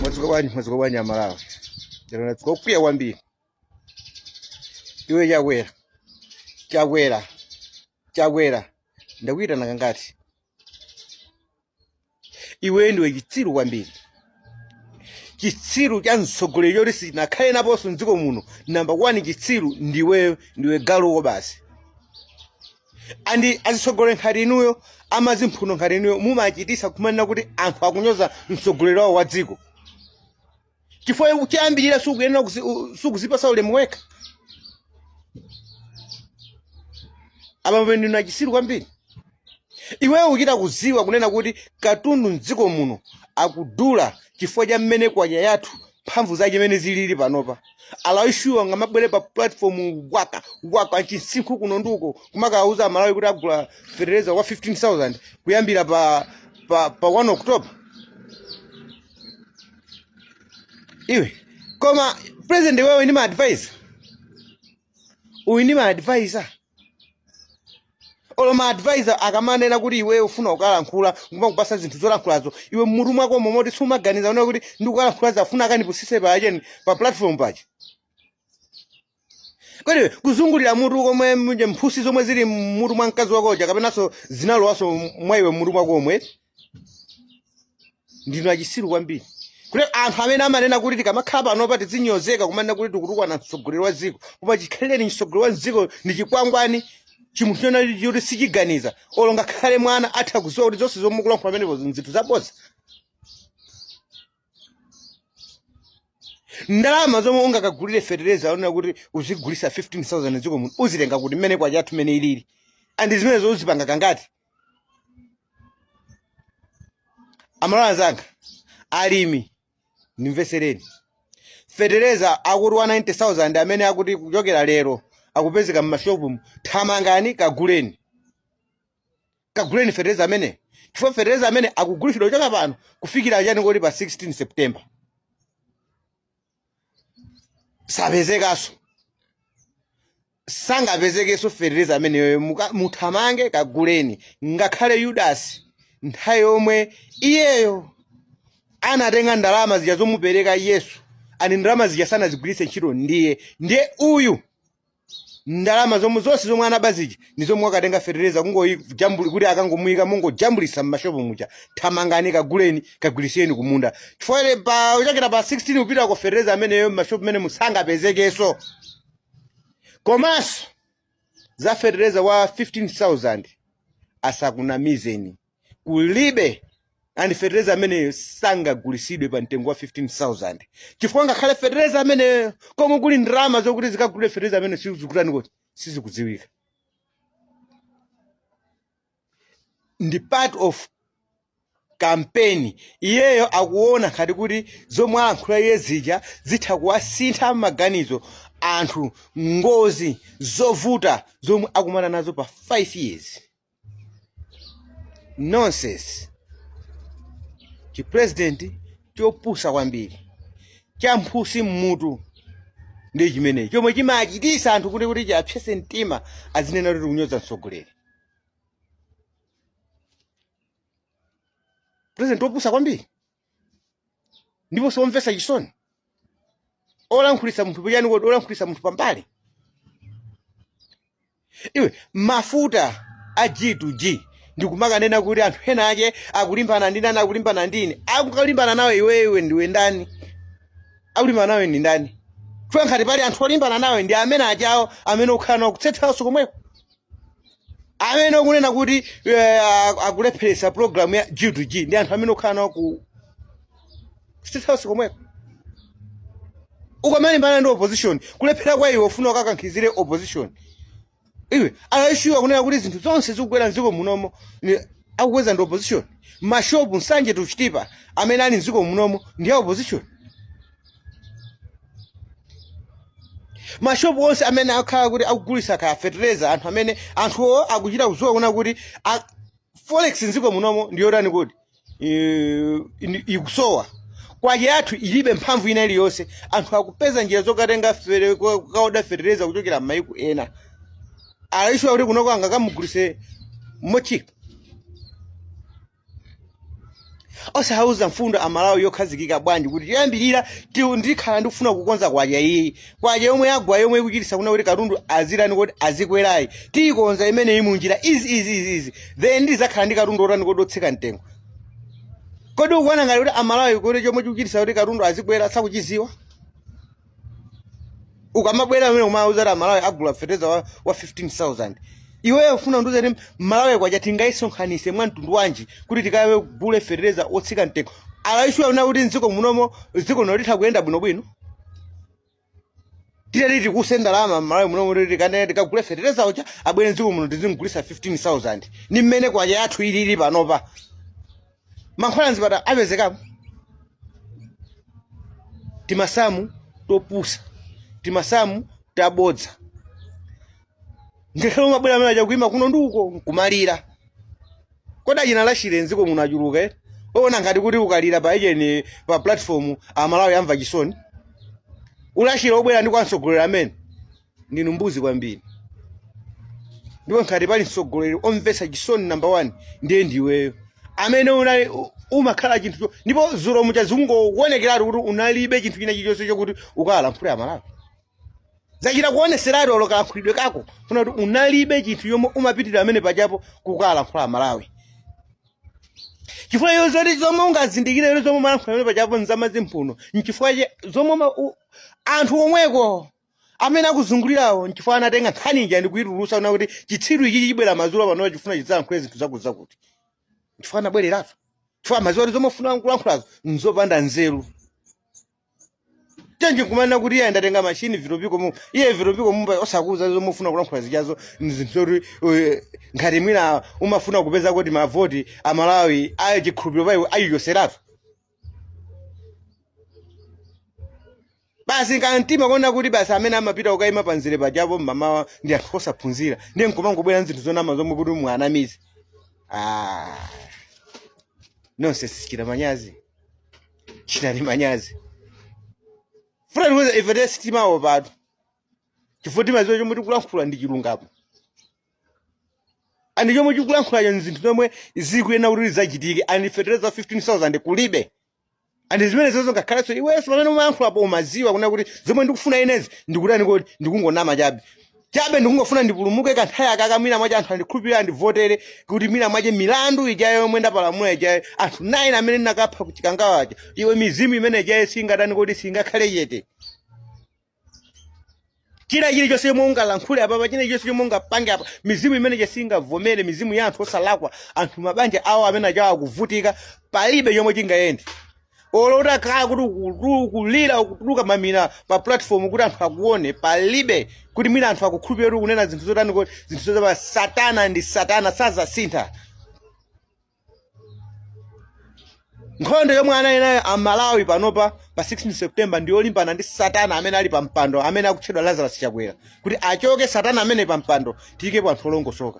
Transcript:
mwadzuka bwanji mwadzuka bwanji amalawi lero nadzuka ndakwiya kwambiri iwe chakwera chakwera chakwera ndakuyitana kangati iweyo ndiwe chitsiru kwambiri chitsiru cha mtsogoleri choti sinakhale naponso mdziko muno namba 1 chitsiru ndiweyo ndiwe galuwo basi andi azitsogolera nkhati inuyo amazimphuno nkhati inuyo mumachitisa kumanena kuti anthu akunyoza mtsogoleri wawo wa dziko chifukwa chiyambirire sukuyenera kuzi- u- sukuzipasa ulemu wekha apa pamene ndinu achisiru kwambiri iweyo uchita kuziwa kunena kuti katundu mdziko muno akudula chifukwa cha mmene kwacha yathu mphamvu zache mmene zilili panopa alawi shuwa ngamabwere pa platform waka waka chinsinkhu chonono ukoko kumakawuza amalawi kuti agula fertilizer wa 15000 kuyambira pa pa, pa 1 october iwe koma president iwe uli ni maadvisor uli ni maadvisor olo ma advisor akamanena kuti iweyo ufuna kukalankhula kumakupasa zinthu zolankhulazo iwe mmutu mwako momo moti sumaganiza kunena kuti ndikukalankhulazi afuna akanipusise pa ujeni pa platform paja kodi kuzungulira mutu komwe muja mphusi zomwe zili mmutu mwa mkazi wako uja kapenanso zinalowaso mwa iwe mmutu mwako momwe ndinu achisiru kwambiri kuti anthu amene amanena kuti tikamakhala panopa tizinyozeka kumanena kuti tikutukwana mtsogoleri wa dziko koma chikhalire mtsogoleri wa dziko ndi chikwangwani chimunthu chonena choti sichiganiza olo ngakhale mwana atha kuziwa kuti zonse zomwe mukulankhula pamenepo nzinthu zabodza ndalama zomwe ungakagulire fetereza onena kuti uzigulisa 15000 mdziko muno uzitenga kuti mmene kwacha yathu mmene ilili andi zimenezo uzipanga kangati amalawi anzanga alimi ndimvesereni fetereza akuti 190,000 amene akuti kuchokera lero akupezeka m'mashopumu thamangani kaguleni kaguleni fetereza amene chifukwa fetereza amene akugulitsidwa kuchoka pano kufikira chani kodi pa 16 september sapezekanso sangapezekenso fetereza ameneyoyo muka- muthamange kaguleni ngakhale yudasi nthawi yomwe iyeyo anatenga ndalama zija zomupereka yesu andi ndalama zija sanazigwiritse ntchito ndiye ndiye uyu ndalama zomwe zonse zomwe anaba zija ndi zomwe wakatenga fetereza kungojambuli kuti akangomuyika nkungojambulisa mmashopu muja thamangani kaguleni kagwirisireni kumunda chifukwa ile pa kuchokera pa 16 kupita uko fetereza ameneyo mmashopu menemu sangapezekenso komanso za fetereza wa 15000 asakunamizeni kulibe and fetereza ameneyo sangagulisidwe pa mtengo wa 15000 chifukwa ngakhale fetereza ameneyo komwe kuli ndalama zokuti zikagulire fetereza amene sizikutani kuti sizikudziwika ndi part of kampeni iyeyo akuona ngati kuti zomwe alankhula iye zija zitha kuwasintha maganizo anthu ngozi zovuta zomwe akumana nazo pa 5 years nonsense chipresident chopusa kwambiri cha mphutsi mmutu ndi chimenechi chomwe chimachitisa anthu kuti kuti chiapsetse mtima azinena kuti tikunyoza mtsogoleri president wopusa kwambiri ndipo somvetsa chisoni olankhulitsa munthu potani kodi olankhulitsa munthu pambali iwe mafuta a g to g ndikumakanena kuti anthu ena ake akulimbana ndi ndani akulimbana ndi ine akukalimbana nawe iwewe ndiwe ndani akulimbana nawe ndi ndani chifukwa ngati pali anthu olimbana nawe ndi amene ajawo amene ukhala nawo ku state house komweko amene ukunena kuti eh, a- akulepheretsa program ya g to g ndi anthu amene ukhala nawo ku state house komweko ukamalimbana ndi opposition kulephera kwa iwe ufuna ukakankhizire opposition iwe are you sure kunena kuti zinthu zonse zikugwera mdziko munomo ni- akukweza ndi opposition mashopu nsanje tuchitipa amene ali mdziko munomo ndi a opposition mashopu onse amene akhala kuti akugulitsa kaya fetereza anthu amene anthuwo akuchita kudziwa kunena kuti a- forex mdziko munomo ndiyotani kuti eh, ini- ikusowa kwacha yathu ilibe mphamvu ina iliyonse anthu akupeza njira zokatenga fere- ko- kokaoda fetereza kuchokera m'mayiko ena are you sure kuti kunoko angakamugulise mochipa osawauza mfundo amalawi yokhazikika bwanji kuti choyambirira ti- ndikhala ndikufuna kukonza kwacha iyi kwacha yomwe yagwa yomwe ikuchitisa kunena kuti katundu azitani kodi azikwerayi tiyikonza imeneyi munjira izi izi izi izi then ndizakhala ndi katundu otani kodi otsika mtengo kodi ukuona ngati kuti amalawi kuti chomwe chikuchitisa kuti katundu azikwera sakuchiziwa ukamabwera amene kumawauza kuti amalawi agula fetereza wa, wa 15000 iweyo ufuna undiuze kuti malawi kwacha tingayisonkhanise mwa mtundu wanji kuti tikagule fetereza otsika mtengo are you sure kunena kuti mdziko munomo dziko lino litha kuyenda bwinobwino titati tikutse ndalama mmalawi munomo kuti tikane tikagule fetereza uja abwere mdziko muno tizimgulisa 15000 ni mmene kwacha yathu ilili panopa mankhwala mzipatala apezekapo timasamu topusa timasamu tabodza ngakhale umabwera amene aja kuima kuno ndi uko nkumalira kodi achina lachire mdziko muno achuluka eti oona ngati kuti ukalira pa ujeni pa platform amalawi amva chisoni ulachire obwera ndi kwa mtsogoleri amene ndinu mbuzi kwambiri ndipo ngati pali mtsogoleri omvetsa chisoni namba 1 ndiye ndiweyo amene unali u- umakhala chinthu cho- ndipo zulo muja zikungowonekeratu kuti unalibe chinthu china chilichonse chokuti ukawalankhule amalawi zachita kuoneseratu olo kalankhulidwe kako kuna kuti unalibe chinthu chomwe umapitira amene pajapo kukawalankhula amalawi chifukwa iyo zoti zomwe ungazindikire lero zomwe umalankhula amene pajapo nzamazi mphuno nchifukwa che- zomwe ma- u- anthu omweko amene akuzungulirawo nchifukwa anatenga nkhani ija ndi kuitulusa kuna kuti chitsiru ichi chibwera madzulo pano chifuna chidzalankhule zinthu zakuti zakuti nchifukwa anabwereratu chifukwa amaziwa kuti zomwe ufuna kulankhulazo nzopanda nzeru tenje kumanena kuti iye ndatenga mashini vitopiko mu iye vitopiko mu osakuza zomwe ufuna kulankhula zijazo nzinthu zoti eh, ngati mwina umafuna kupeza kuti mavoti amalawi ayo chikhulupiriro paiwe ayiyoseratu basi nkamtima kuona kuti basi amene amapita kukaima pamzere pajapo mmamawa ndi anthu osaphunzira ndiye nkumangobwera nzinthu zonama zomwe kuti muwanamize ah. nonse sichita manyazi chitani manyazi funa ndikuuze ifetu sitimawopatu chifukwa timaziwa chomwe tikulankhula ndi chilungamo andi chomwe tikulankhulacho nzinthu zomwe zikuyenera kuti zidzachitike andi fetereza 15000 kulibe andi zimenezozo ngakhalenso iwenso pamene umayankhulapo umaziwa kuna kuti zomwe ndikufuna inezi ndikutani kodi ndikungonama chabe chabe ndikungofuna ndipulumuke kanthawi akaka mwina mwache anthu andikhulupirira andivotere kuti mwina mwache milandu ijayo yomwe ndapalamula ijayo anthu 9 amene ndinakapha kuchikangawa aja iwe mizimu imene ijayo singatani kodi singakhale chete china chilichonse chomwe ungalankhule apapa china chilichonse chomwe ungapange apa mizimu imene ija singavomere mizimu ya anthu osalakwa anthu mabanja awo amene ajawo akuvutika palibe chomwe chingayende olo utakhala kuti ukulu- ukulira ukutuluka mamina pa platform kuti anthu akuone palibe kuti mwina anthu akukhulupirira kuti ukunena zinthu zotani kodi zinthu zotapa satana ndi satana sazasintha nkhondo yomwe anali nayo amalawi panopa pa 16 september ndi yolimbana ndi satana amene ali pa mpando amene akutchedwa lazarus chakwera kuti achoke satana ameneyu pa mpando tiyikepo anthu olongosoka